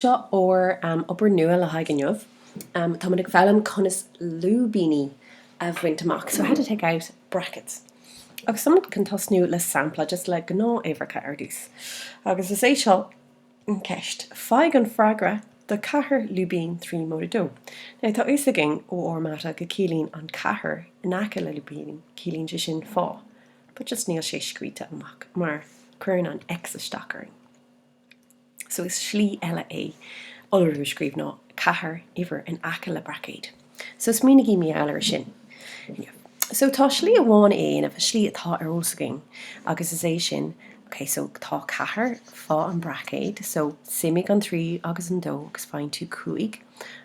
Seo ár obair nua le haghaidh inniu. Táimid ag foghlaim conas lúibíní a bhaint amach, so how to take out brackets. Agus táimid chun tosnú le sampla, just le gnáth-uimhreacha ar dtús. Agus is é seo an cheist, faigh an freagra do cheathair lúibín trí móide dó. Now tá fhios againn ó ár mata go ciallaíonn an ceathair in aice le lúibíní, ciallaíonn sé sin fá, but just níl sé scríte amach mar cuireann an X isteach orainn. so is slí eile é iolrú a scríobh ná 4 uimhir in aice le braicéad so smaoinigí maidir leis sin so tá slí amháin a dhéanamh an slí atá ar eolas againn agus is é sin ok so tá 4 fá an braicéad so suimigh an 3 agus an 2 agus faigheann tú 5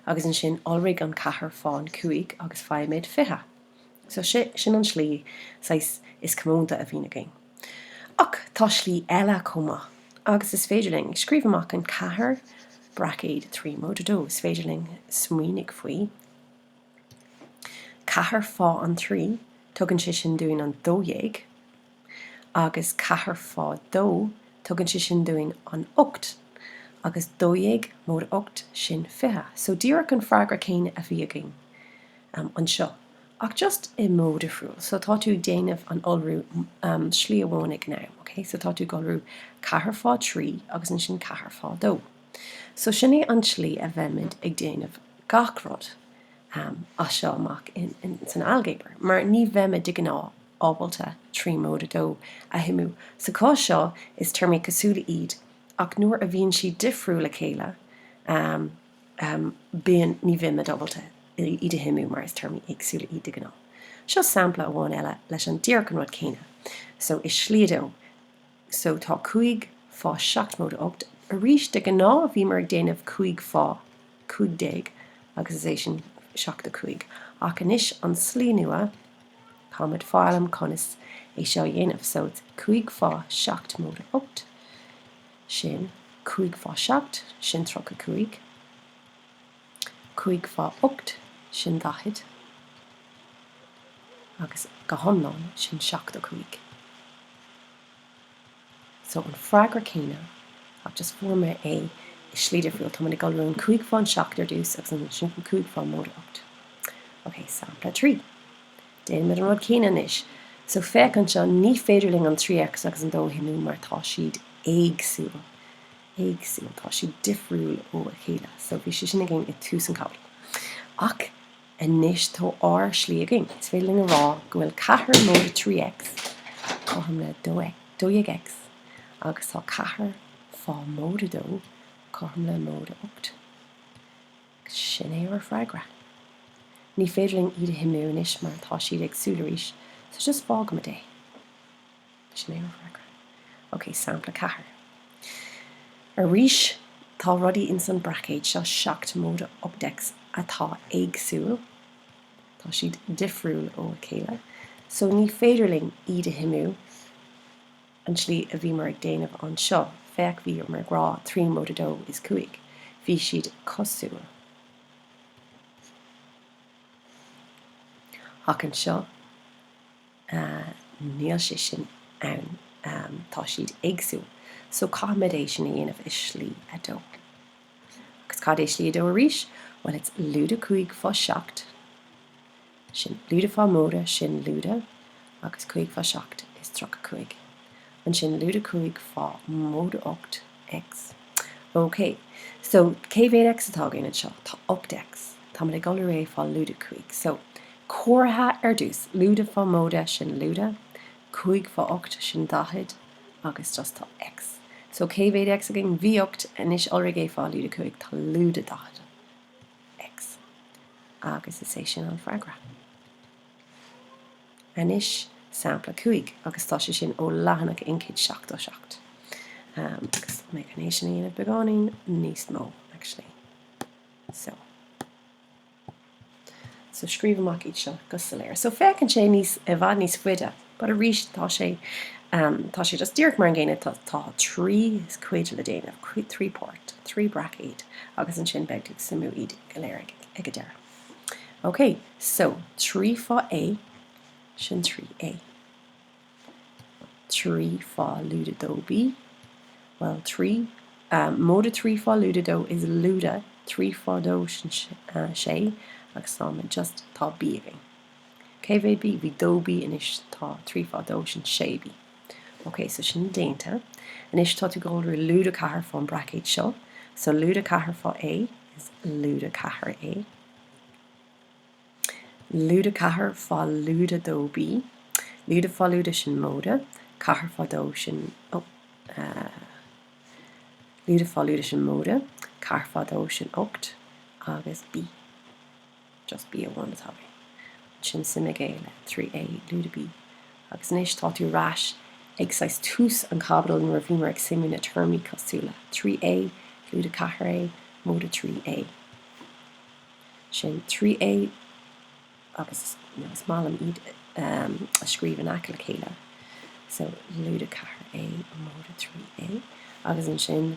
agus ansin iolraigh an 4 fá an 5 agus faighimid 20 so sin an slí saghas is comónta a bhíonn againn. Ach tá slí eile chomh maith, agus is féidir linn, scríobh amach an ceathair braicéad trí móide dó, is féidir linn smaoinigh faoi. Ceathair fá an trí, tugann sé sin dúinn an dó dhéag, agus ceathair fá dó, tugann sé sin dúinn an ocht, agus dó dhéag móide ocht, sin fiche. So díreach an freagra céanna a bhí againn anseo, Ach just i modh difriúil. So tá tú ag déanamh an iolrú slí amháin ag an am, ok? So tá tú ag iolrú ceathair fá thrí agus ansin ceathair fá dó. So sin é an tslí a bheimid ag déanamh gach rud as seo amach san ailgéabar, mar ní bheimid de gnáth ábalta trí móide dó a shuimiú. Sa chás seo is téarmaí cosúla iad ach nuair a bhíonn siad difriúil le chéile, bíonn ní bheimid ábalta iad a shuimiú mar is téarmaí éagsúla iad de ghnáth. Seo sampla amháin eile leis an díreach an rud céanna so i slí a dó so tá 5 fá 7 móide 8 arís de ghnáth bhíomar ag déanamh 5 fá 15 agus is é sin 75 ach anois an slí nua táimid ag foghlaim conas é seo a dhéanamh so 5 fá 7 móide 8 sin cúig fá seacht, sin tríocha cúig, cúig fá ocht, sin daichead, agus go hiomlán, sin seachtó cúig. So, an freagra céanna, ach just fuair mé é i slí difriúil. Táimid ag iolrú an cúig fán seacht ar dtús, agus ansin an cúig fá móide ocht. Ok, sampla trí. Déanaimid an rud céanna anois. So, féach anseo, ní féidir linn an 3X agus an 2 a shuimiú mar tá siad éagsúil. Éagsúil. Tá siad difriúil ó a chéile. So, bhí sé sin againn i dtús an chaibidil. Ach anois tá ár slí againn. Is féidir linn a rá go bhfuil ceathair móide 3X cothrom le 12X agus tá ceathair fá móide 2 cothrom le móide 8. Sin é ár bhfreagra. Ní féidir linn iad a shuimiú anois mar tá siad éagsúil arís, so just fágaimid é. Sin é ár bhfreagra. Ok, sampla 4. Arís, tá rudaí ins an mbraicéad seo, 7 móide 8X, atá éagsúil, tá siad difriúil ó a chéile, so ní féidir linn iad a shuimiú. an tslí a bhíomar ag déanamh anseo, féach bhíomar ag rá trí móide dó is cúig, bhí siad cosúil. Ach anseo, níl sé sin ann, tá siad éagsúil. So caithfimid é sin a dhéanamh i slí a dó. Agus cad é slí a dó arís? Bhuel, it's lúide cúig fá seacht. sin lúide fá móide sin lúide agus cúig fá seacht is tríocha cúig ansin lúide cúig fá móide ocht x ok so cé mhéad x atá againn anseo tá ocht x táimid ag iolrú é fá lúide cúig so comhartha ar dtús lúide fá móide sin lúide cúig fá ocht sin daichead agus just tá x so cé mhéad x againn bhí ocht anois iolraigh é fá lúide cúig tá lúide daichead X, agus is é sin an freagra. Anois sampla 5, agus tá sé sin ó leathanach 177, agus mé chun é sin a dhéanamh beagáinín níos mó actually. So. So scríobh amach iad seo go soiléir. So féachann sé níos, i bhfad níos faide. But arís tá sé tá sé just díreach mar an gcéanna, tá tá trí cuid le déanamh, trí páirt, trí braicéad, agus ansin beidh tú ag suimiú iad go léir ag ag an deireadh. Ok, so trí fá A, sin trí A. Trí fá lúide dó B, well trí móide trí fá lúide dó is lúide trí fá dó sin sé, agus tá mé just tá B againn. Cé mhéad B? Bhí dó B anois tá trí fá dó sin sé B. Ok, so sin déanta. Anois tá tú ag iolrú lúide ceathair fán braicéad seo. So lúide ceathair fá A is lúide ceathair A. Lúide ceathair fá lúide dó B. Lúide fá lúide sin móide ceathair fá dó sin oh, uh, lúide fá lúide sin móide ceathair fá dó sin ocht agus B. just b amháin atá mé. Ansin suimigh é le trí a lúide b. Agus anois tá tú ar ais ag saghas tús an chaibidil nuair a bhíomar ag suimiú na téarmaí cosúla, trí a lúide ceathair a móide trí a. Sin trí a agus you know is maith liom iad a scríobh in aice le chéile. So lúide ceathair a móide trí a. Agus ansin.